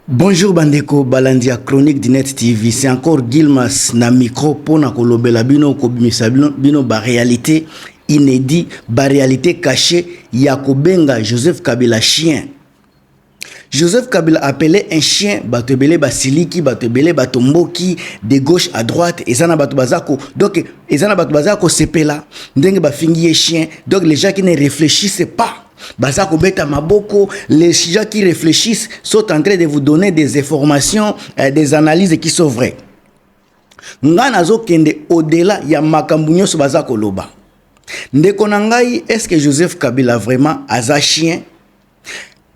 Bonjour bandeko balandi ya chronique du net TV c'est encore Gilmas na micro pona kolobela bino kobimisa bino, bino ba réalité inédit ba réalité cachée ya kobenga Joseph Kabila chien Joseph Kabila appelait un chien bato ebele basiliki bato ebele bato mboki de gauche à droite eza na bato baza ko donc eza na bato baza kosepela ndenge bafingi ye chien donc les gens qui ne réfléchissent pas baza kobeta maboko les gens qui réfléchissent sont en train de vous donner des informations euh, des analyses qui sont vraies nga nazokende au-delà ya makambo nyonso baza koloba ndeko na ngai est ce que joseph kabila vraiment aza chien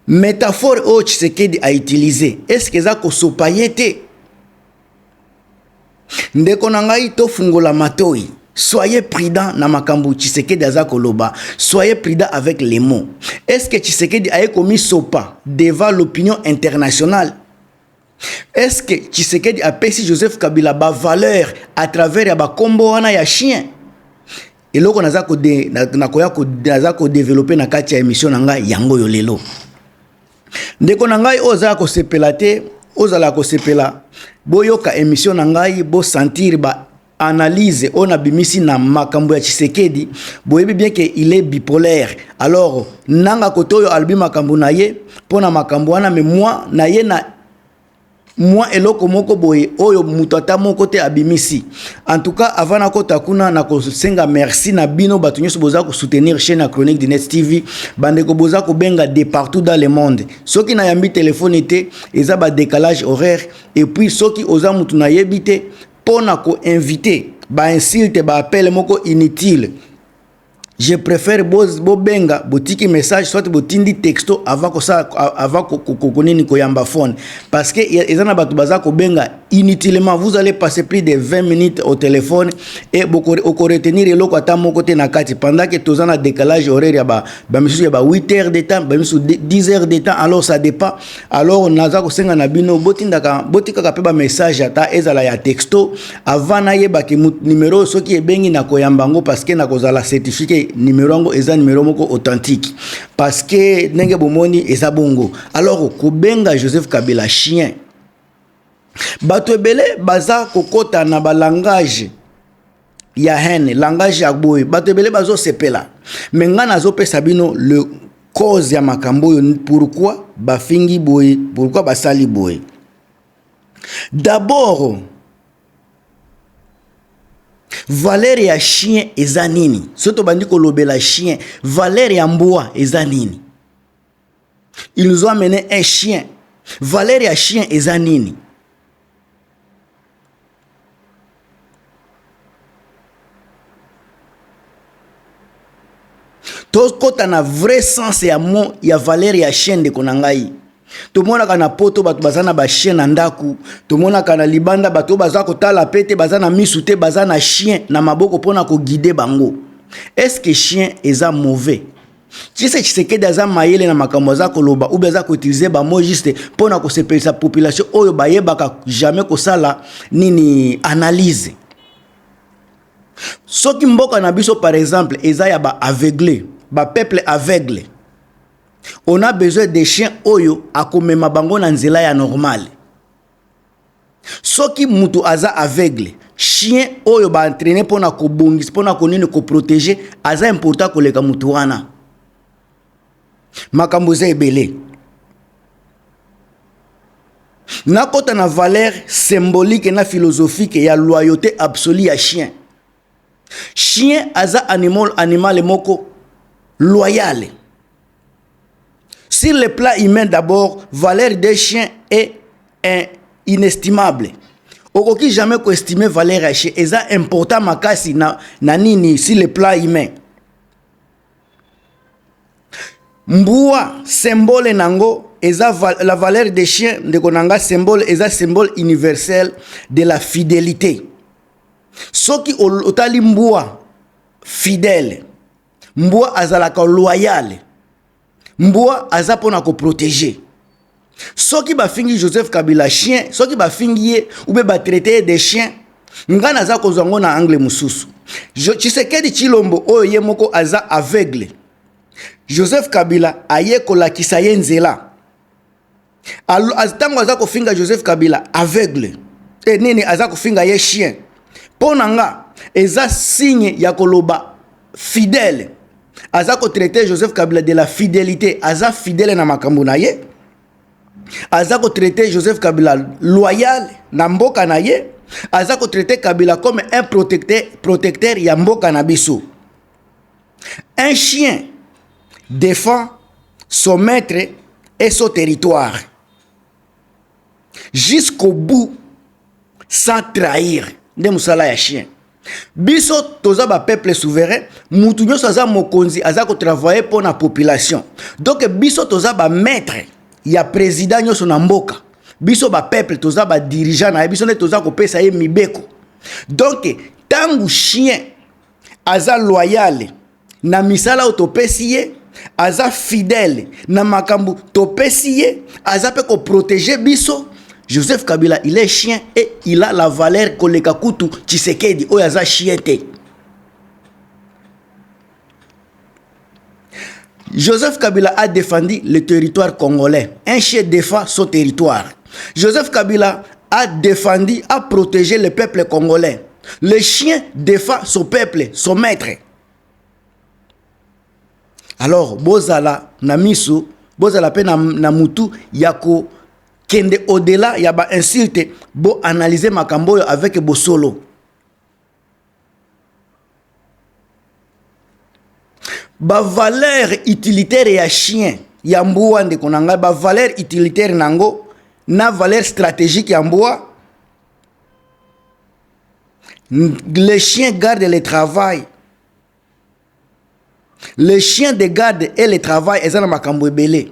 métaphore oyo tshisekedi a utilise est ce que eza kosopa ye te Ndeko na ngai tofungola matoi. Soyez prudent na makambo Tshisekedi aza koloba. Soyez prudent avec les mots. Est-ce que Tshisekedi aye komisopa devant l'opinion internationale? Est-ce que Tshisekedi apesi Joseph Kabila ba valeur à travers ya bakombo wana ya chien? Eloko naza ko nakoya ko naza ko developper na kati ya emission na ngai yango yo lelo. ndeko na ngai oyo ozala kosepela te ozala kosepela boyoka emission na ngai bosentir ba analyse oyo nabimisi na makambo ya tshisekedi boyebi bien ke il est bipolaire alors nanga kote oyo alobi makambo na ye mpo na makambo wana me moi na ye na mwa eloko moko boye oyo moto ata moko te abimisi en tout cas avant nakota kuna nakosenga merci na bino bato nyonso boza kosoutenir chaîne ya chronique du net tv bandeko boza kobenga de partout dans le monde soki nayambi telefone te eza badécalage horaire et puis soki oza moto nayebi te mpo na koinvite bainsulte baapele moko inutile je préfère bobenga botiki message soit botindi texto avant kosala avant konini koyamba phone parce que eza na bato baza kobenga inutilement vous allez passer plus de 20 minutes au téléphone et okoretenir eloko ata moko te na kati pendant que toza na décalage horaire ya bamisusu ya ba 8 heures de temps bamisusu 10 heures de temps alors ça dépend alors naza kosenga na bino botindaka botikaka mpe bamessage ata ezala ya texto avant nayeba ke numero oyo soki ebengi na koyamba yango parceke nakozala certifie ke numero yango eza numero moko authentique parceke ndenge bomoni eza bongo alors kobenga joseph kabila chien bato ebele baza kokɔta na balangage ya haine langage ya boye bato ebele bazosepela me ngai nazopesa bino le cause ya makambo oyo pourkui bafingi boye pourkui basali boye D'abord valeur ya chien eza nini? Soki tobandi kolobela chien, valeur ya mbwa eza nini? Il nous a mené un chien. Valeur ya chien eza nini? tokota na vrai sens ya mo ya valeur ya chaîne ndeko na ngai tomonaka na poto bato baza na bachien na ndako tomonaka na libanda bato oyo baza kotala pe te baza na misu te baza na chien na maboko mpona koguide bango estce que chien eza mauvais Tshisa Tshisekedi aza mayele na makambo aza koloba ou bien aza ko utiliser ba mots juste mpo na kosepelisa population oyo bayebaka jamais kosala nini analyse. Soki mboka na biso par exemple eza ya ba aveugle, ba peuple aveugle, on a besoin des chiens oyo akomema bango na nzela ya normale. soki mutu aza aveugle chien oyo ba entraîner pona kobongisa pona konini ko protéger aza important koleka mutu wana makambo eza ebele nakota na valeur symbolique na philosophique ya loyauté absolue ya chien Chien aza animal animal moko loyale. Sur le plan humain d'abord, valeur des chiens est est inestimable. Okoki jamais ko estimer valeur ya chien eza important makasi na, na nini sur le plan humain. Mbua symbole nango eza val la valeur des chiens ndeko nanga symbole eza symbole universel de la fidelite. soki otali mbwa fidèle mbwa azalaka loyale mbwa aza mpo na koprotege soki bafingi joseph kabila chien soki bafingi ye ube batraite ye de chien ngai naza kozwa yango na angle mosusu tshisekedi tshilombo oyo ye moko aza aveugle joseph kabila aye kolakisa ye nzela ntango aza kofinga joseph kabila aveugle e nini aza kofinga ye chien mpo na nga eza signe ya koloba fidèle aza kotraite joseph kabila de la fidelité aza fidèle na makambo na ye aza kotraite joseph kabila loyal na mboka na ye aza kotraite kabila comme un protecteur, protecteur ya mboka na biso Un chien defend son maitre et son territoire jusqu'au bout sans trahir nde mosala ya chien biso toza ba peuple souverain mutu nyonso aza mokonzi aza kotravaille mpo na population donk biso toza ba maitre ya président nyonso na mboka biso ba peuple toza ba dirigeant na ye biso nde toza kopesa ye mibeko donk ntango chien aza loyale na misala oyo topesi ye aza fidèle na makambo topesi ye aza mpe koprotege biso joseph kabila il est chien et il a la valeur koleka kutu tshisekedi oyo aza chien te Joseph Kabila a defendi le territoire congolais. Un chef défend son territoire. Joseph Kabila a defendi, a protégé le peuple congolais. Le chien défend son peuple, son maître. Alors, bozala na misu, bozala pe na, na mutu yako kende au-delà ya ba insulte, bo analyser makambo avec bosolo. Ba valeur utilitaire ya chien ya mbwa ndeko na ngai, ba valeur utilitaire na yango na valeur strategique ya mbwa le chien garde le travail le chien de garde et le travail eza na makambo ebele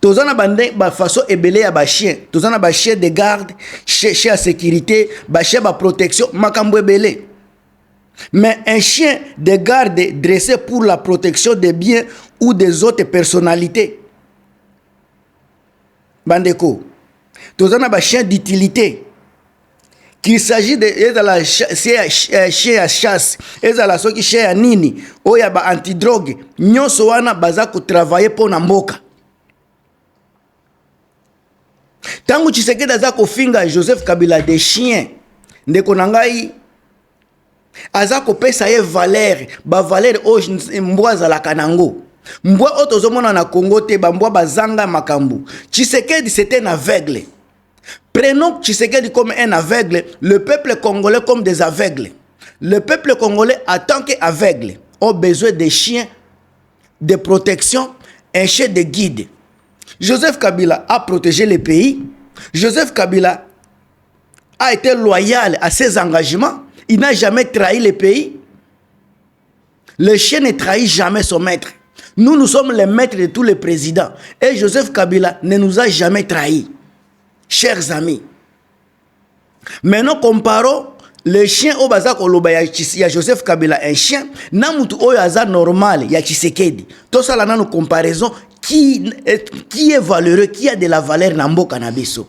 toza na bande bafaçon ebele ya bachien toza na bachien de garde chien ya sécurité bachien ba protection makambo ebele mais un chien de garde dressé pour la protection des biens ou des autres personnalités bandeko toza na ba chien d'utilité qu'il s'agit de ezala eh, chien ya chasse ezala soki chien ya nini oyo ya ba antidrogue nyonso wana baza kotravaille mpo na mboka ntango tshisekedi aza kofinga joseph kabila de chien ndeko na ngai aza kopesa ye valere bavalere oyo mbwa azalaka na yango mbwa oyo tozomona na congo te bambwa bazanga makambo tshisekedi sete na aveugle prenons tshisekedi comme un aveugle le peuple congolais comme des aveugles le peuple congolais en tant que aveugle ont besoin des chiens de protection un chien de guide joseph kabila a protégé le pays joseph kabila a été loyal à ses engagements il n'a jamais trahi le pays le chien ne trahit jamais son maître nous nous sommes les maîtres de tous les présidents et Joseph Kabila ne nous a jamais trahi chers amis maintenant comparons le chien oyo baza koloba ya, ya joseph kabila un chien na motu oyo aza normal ya tshisekedi tosala nano comparaison qui, qui est valeureux qui a de la valeur na mboka na biso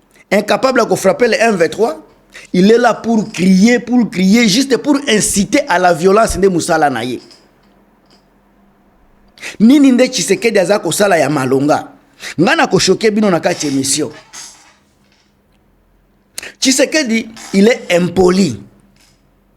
incapable ya kofrape le m23 il est là pour crier pour crier juste pour inciter à la violence nde mosala na ye nini nde tshisekedi aza kosala ya malonga ngai nakoshoke bino na kati ya émission tshisekedi il est impoli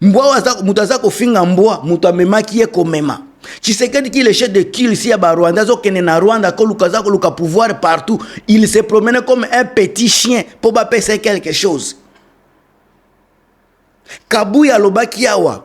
Mbwa oyo aza moto aza kofinga mbwa, moto amemaki ye komema. Tshisekedi ki le chef de kill si ya ba Rwanda azokende na Rwanda koluka aza koluka pouvoir partout. Il se promenait comme un petit chien mpo bapesa ye quelque chose. Kabuya alobaki awa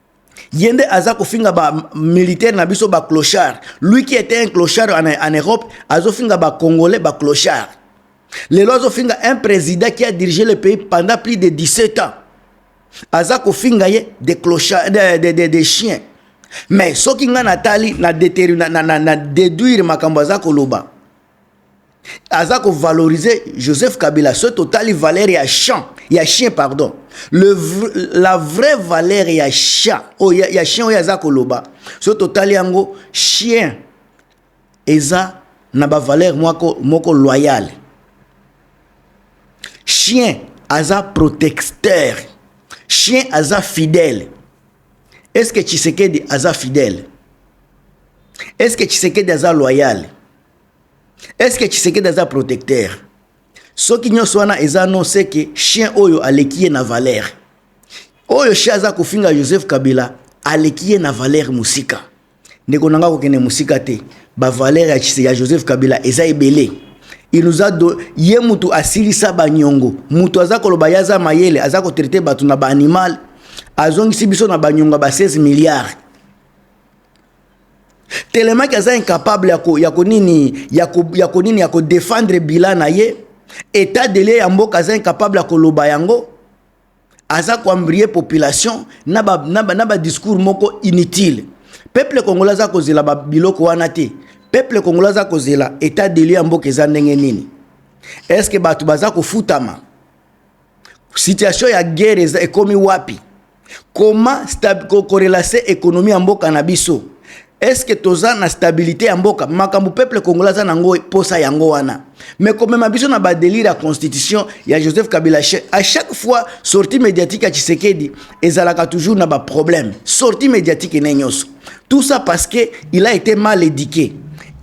Yende aza kofinga ba militaire na biso ba clochard. Lui qui était un clochard en, en Europe, azofinga ba congolais ba clochard. Lelo azofinga un président qui a dirigé le pays pendant plus de 17 ans. Aza kofinga ye des clochards des de, de, de chiens. Mais soki nga natali na déduire makambo aza koloba. aza ko valoriser Joseph Kabila soki totali valeur ya chant ya chien pardon le la vraie valeur ya chien oh, ya, ya chien oyo aza koloba soki totali yango chien eza na ba valeur moko, moko loyale chien aza protecteur chien aza fidèle est-ce que Tshisekedi aza fidèle est-ce que Tshisekedi aza loyale est ce que Tshisekedi aza protecteur soki nyonso wana eza non c'est que chien oyo aleki ye na valeur oyo chien aza kofinga Joseph Kabila aleki ye na valeur mosika ndeko na ngai kokende mosika te bavaleur ya, ya joseph kabila eza ebele il nous a do ye mutu asilisa banyongo mutu aza koloba ye aza mayele aza kotraite bato na baanimal azongisi biso na banyongo ya ba 16 milliards telemaki aza incapable yako yako nini yako yako nini yako défendre bilan na ye état de lieu ya mboka aza incapable ya koloba yango aza koambrie population na ba, na ba, na ba discours moko inutile peuple congolais aza kozela ba biloko wana te peuple congolais aza kozela état de lieu ya mboka eza ndenge nini est ce que bato baza kofutama situation ya guerre eza ekomi wapi comment korelase ekonomi ya mboka na biso eske toza na stabilité ya mboka makambo peuple congolais aza nango posa yango wana mais komema biso na badelire ya constitution ya joseph kabila à chaque fois sortie médiatique ya tshisekedi ezalaka toujours na baproblème sortie médiatique ene nyonso tout ça parce que il a été mal édiqué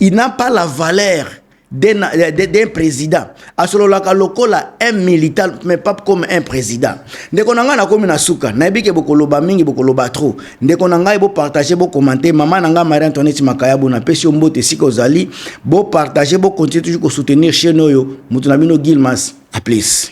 il n'a pas la valeur d'un président asololaka lokola un militant mais pas comme un président ndeko na ngai nakomi na suka nayebi ke bokoloba mingi bokoloba trop ndeko na ngai bopartage bocommente mama na ngai marie antoinette makayabu napesi yo mbote esika ozali bopartage bocontinue toujours kosoutenir chaine oyo moto na bino gilmas aplis